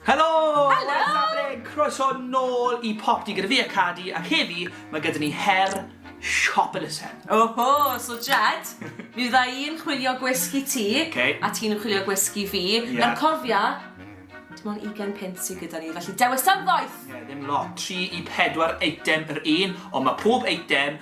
Helo! Helo! Safle, croeso nôl i Popty gyda fi a Cadi, ac heddi mae gyda ni her siop elusen. Oho, so Jed, mi fydda i'n chwilio gwisg i ti, okay. a ti'n chwilio gwisg i fi, yeah. nawr cofia, dim ond 20 punt sydd gyda ni, felly dewis am ddoeth! Ie, yeah, ddim lot, 3 i 4 eitem yr un, ond mae pob eitem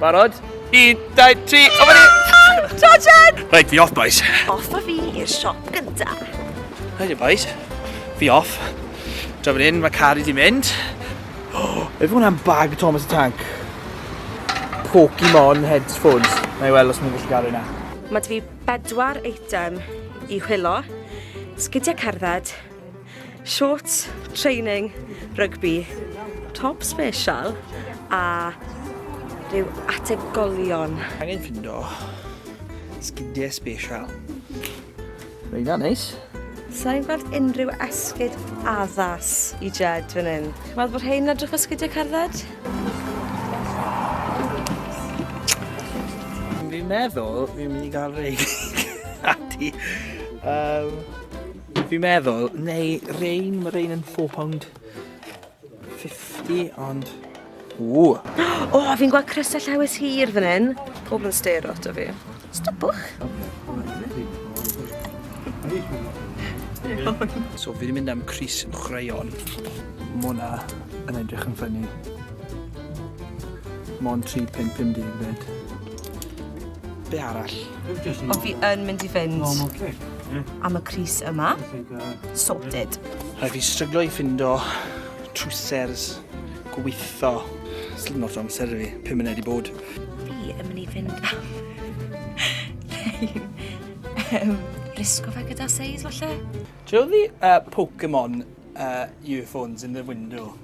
Barod? Un, dau, tri, o fan hyn! Ta, Jen! Rhaid fi off, boys. Off a fi i'r siop gynta. Rhaid i, boys. Fi off. Dra fan hyn, mae car i di mynd. Oh, efe hwnna'n bag Thomas y Tank. Pokemon headphones. Na i weld os mae'n gallu gael yna. Mae fi bedwar eitem i hwylo. Sgidiau cerdded, Shorts, training, rygbi, top special a rhyw ategolion. Angen ffindo sgidiau special. Reina, neis. Sa'n gweld unrhyw esgyd addas i Jed fan hyn. Wel, bod rhain edrych o sgidiau cerdded? Fi'n meddwl fi'n mynd i gael rei. Ati. Um, Fi'n meddwl, neu rein, mae rein yn £4.50, ond... Ww! O, oh, fi'n gweld crysau llewys hir fan hyn. Pobl yn stero ato fi. Stopwch! So fi wedi mynd am Cris yn chreion. Mona yn edrych yn ffynnu. Mon 3.50 fed. Be arall? O fi yn mynd i fynd. Hmm. Am y Cris yma. Sorted. Rhaid fi stryglo i ffindo trwsers gweitho. Slim lot o amser i fi, 5 munud i bod. Fi yn mynd i fynd am... risgo fe gyda seis, falle? Do you know the uh, Pokemon uh, earphones in the window?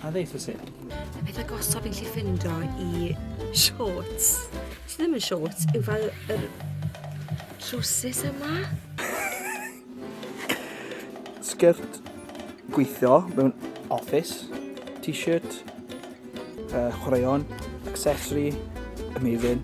A ddeitha si. Y peth agosaf fi'n lli ffindo i shorts. Sy ddim yn shorts, yw fel yr trwsus yma. Sgert gweithio mewn office, t-shirt, uh, chwaraeon, accessory, amazing.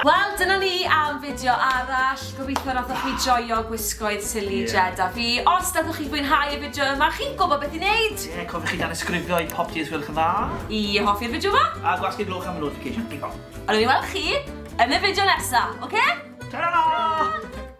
Wel, dyna ni am fideo arall. Gobeithio nathoch chi joio gwisgoedd Silly Jed a fi. Os nathoch chi fwynhau y fideo yma, chi'n gwybod beth i wneud! Ie, cofiwch i danysgrifio i Popty os gwelwch yn dda. I hoffi'r fideo yma. A gwasgu gloch am y notification. Diolch. A nawn ni weld chi yn y fideo nesa, oce? Ta-ra!